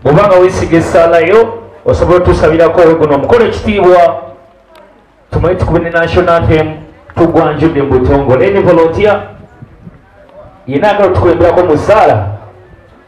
obanga wesiga esalayo osobola otusabirako guno omukolo ekitiibwa tumanye tukube ne national anthem tugwanjudde mubutongole ne volontiya yena agala otukulemberako musaala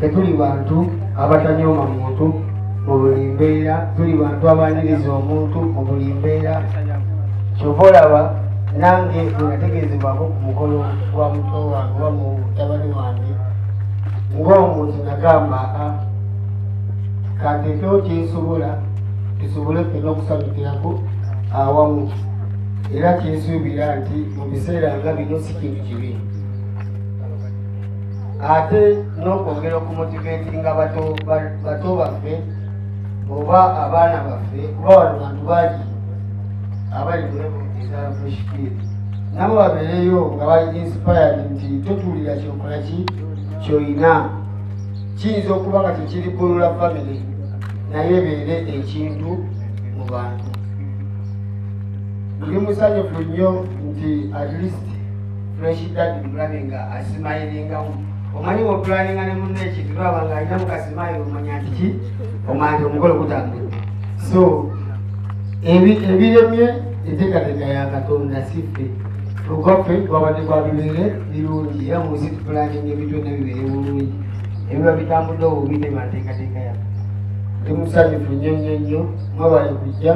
tetuli bantu abatanyooma muntu mu buli mbeera tuli bantu abaniriza omuntu mu buli mbeera kyova olaba nange bwenategeezebwako ku mukolo gwa muto wange oba mu tabani wange ng'omuntu nagamba a ah, kanteekewo kyensobola tusobole fena okusanyukirako awamu era kyensuubira nti mu biseera nga bino si kintu kibi ate n'okwongera okumutigetinga bato baffe oba abaana baffe kuba wano bantu bagi abali mulevu eza fresh field nabo babeereyo nga bali inspired nti totuulira kyokola ki kyoyina kiyinza okuba nga kyekiri kulula family naye beere ekintu mu bantu ndi musanyufu nnyo nti at least fresh dad mulabe nga asimayiringamu omanyi wopulaninga ne munna ekintu lwaba nga alina mukasimayi omanya nti ki omanya omukolo gutambula so ebiremye enteekateeka ya katonda siffe ogwaffe gwabadde gwa bibeere birungi era mu nsi tupulaninga ebintu byonna bibeere bulungi ebiba bitambudde obubi ne mateekateeka yaffe ndi musanyufu nnyo nnyo nnyo mwebale kujja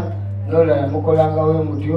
nolala mukolangawo omutyo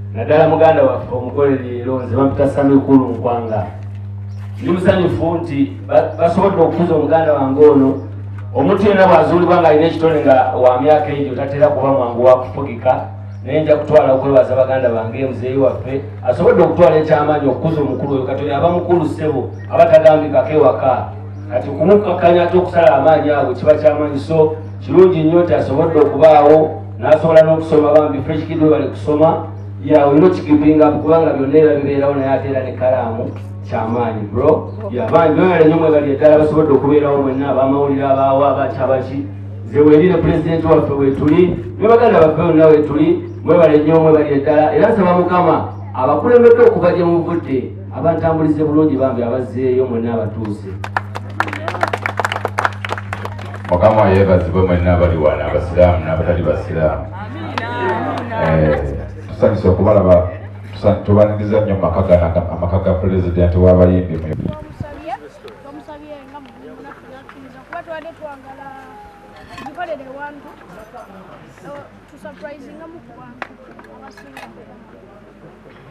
naddala muganda waffe omugole leero nze bampita samikulu nkwanga ndi musanyufu nti basobodde okukuza omuganda wange ono omuntu yena bwazuulibwa nga alina ekitone nga wa myaka egyo tatera kuba mwangu wakufugika naye nja kutwala okwebaza baganda bange muzeeyi waffe asobodde okutwala ekyamaanyi okukuza omukulu oyo katoyo aba mukulu ssebo aba tagambikako ewaka kati okumukkakanya ate okusala amaanyi ago kiba kyamaanyi so kirungi nnyo nti asobodde okubaawo nasobola n'okusoma bambi fresh kid webali kusoma ya olina okigipinga kubanga byonna era bibeerawo naye ate era ne kalaamu kyamaanyi bro yabangi noyala nyo mwebali eddala basobodde okubeerawo mwenna abamawulire abaawo abakyabaki zewerire pulezidenti waffe wetuli ne baganda baffe bonna wetuli mwebale nyo mwebali eddala era nsaba mukama abakulembedde okuva gye muvudde abantambulize bulungi bambi abazzeeyo mwenna abatuuse mukama yebazibwe mwenna abali wano abasiraamu n'abatali basiraamu eh, tusanyusa okubalaba tubaniriza nnyo amaka ga pulezidenti w'abayimbi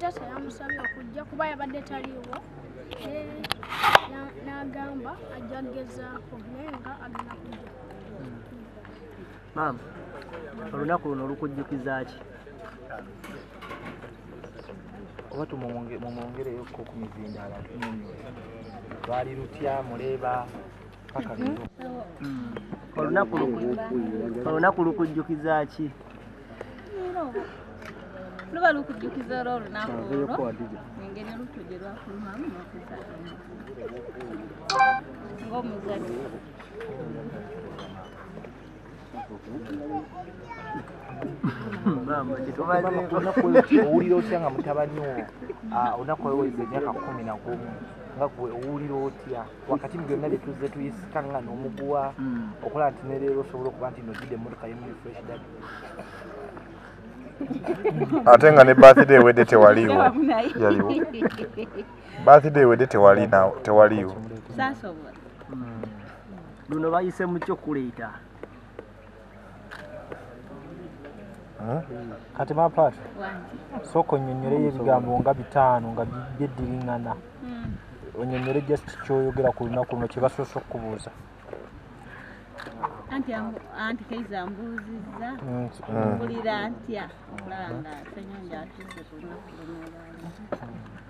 taata yamusabye okujja kuba yabadde taliiwo n'agamba ajja kugezaako naye nga agenda kujja maama olunaku luno olukujjukiza ki oba tumumwongereyo ko ku mizindaala tunyonyo lwali lutya muleeba olunaku lukujjukiza ki luba lukujjukiza olwo olunaku olwo engeri olutto gye lwafulumamu nokuzaamu ng'omuzadde owulira otya nga mutabani wo ah, onaku weweza emyaka kumi nagumu nga gwe owulira otya wakati mu byonna bye tuzze tuyisikaŋŋana omuguwa hmm. okulaba nti nereero osobola okuba nti nojjidde emmotoka yemuli fresh dad ate nga ne birthday ewedde tewaliiwo yaliwo birthday ewedde tewali nawo tewaliiwo hmm. luno bayise mu kyokuleeta kati mapat sooka onyonyoleyo ebigambo nga bitaano nga byeddiringana hmm. onyonyole just kyoyogera ku lunaku luno kyebasoose okukubuuza anti anti kaiza mbuuzizza mpulira ntya okulaba nga senyonja atuuse ku lunaku luno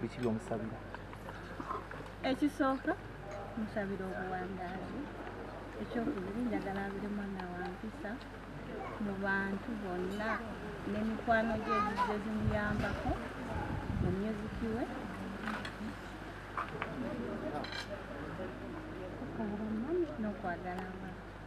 biki byomusabira ekisooka musabira obuwangaazi ekyokubiri njagala abire mwana wampisa mu bantu bonna n'emikwano gye gizze zimuyambako mu myuziki we obumanyi n'okwagala abantu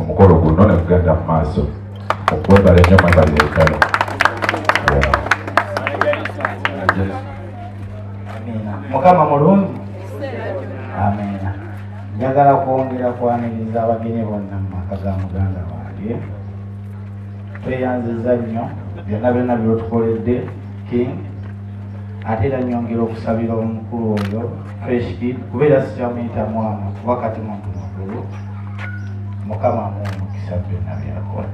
omukolo guno nekugenda mu maaso okwebala enyo mwebali ekala mukama mulungi amina njagala kwongera kwaniriza abagenyi bonna mu maka ga muganda wange tweyanziza nnyo byonna byonna byotukoledde king ate era nyongera okusabira omukulu oyo fresh kid kuba era sikyamuyita mwana kuba kati muntu mukulu mukama amuwa omukisa byonna byakola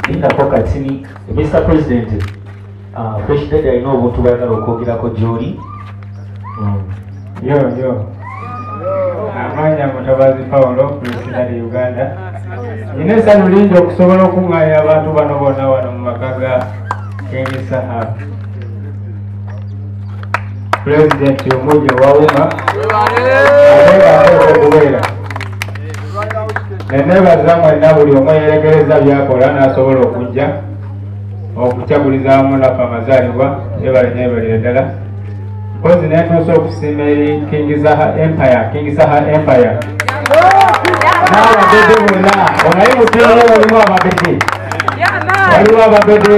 lindako katini mr president uh, fresh dad alina obuntu bwagala okwogerako gyoli mm. yo yo amaanya mutabazi paulo pulezida de uganda nina esanu lingi okusobola okuŋŋaanya abantu bano bona wano mu maka ga kemisaha pulezidenti omujja owawuma okubeera nenebaza mwenna buli omu eyerekereza byakola n'asobola okujja okukyaguliza wamu nafe amazaalibwa ebale nebalire ddala mpozi nentuusa okusiima eri kingizaha empire kingizaha empire n'ababede bonna onaye muteeyo waliwo ababede waliwo ababede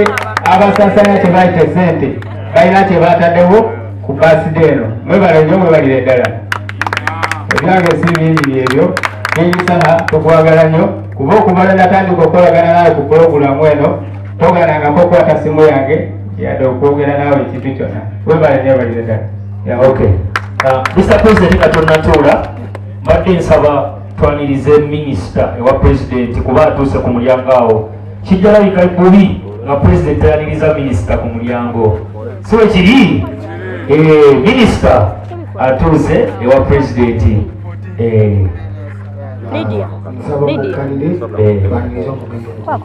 abasasanya kyebayita esente balina kyebataddewo ku baside eno mwebale nyo mwebalire ddala ebyange si bingi byebyo kingizaha tukwagala nyo kuba okubala natandika okukolagana naye ku pulogulamu eno togalangako okukwata simu yange yadde okwogera naawe ekintu kyona webale nyo balire ddala ya ok mr uh, president nga tonatuula mbadde nsaba twanirize minisita ewa pulezidenti kuba atuuse ku mulyango awo kijja labika bubi nga pulezidenti ayaniriza minisita ku mulyango si wekiri eh, minisita atuuse ewa pulezidenti eh. Lydia. Lydia. Eh.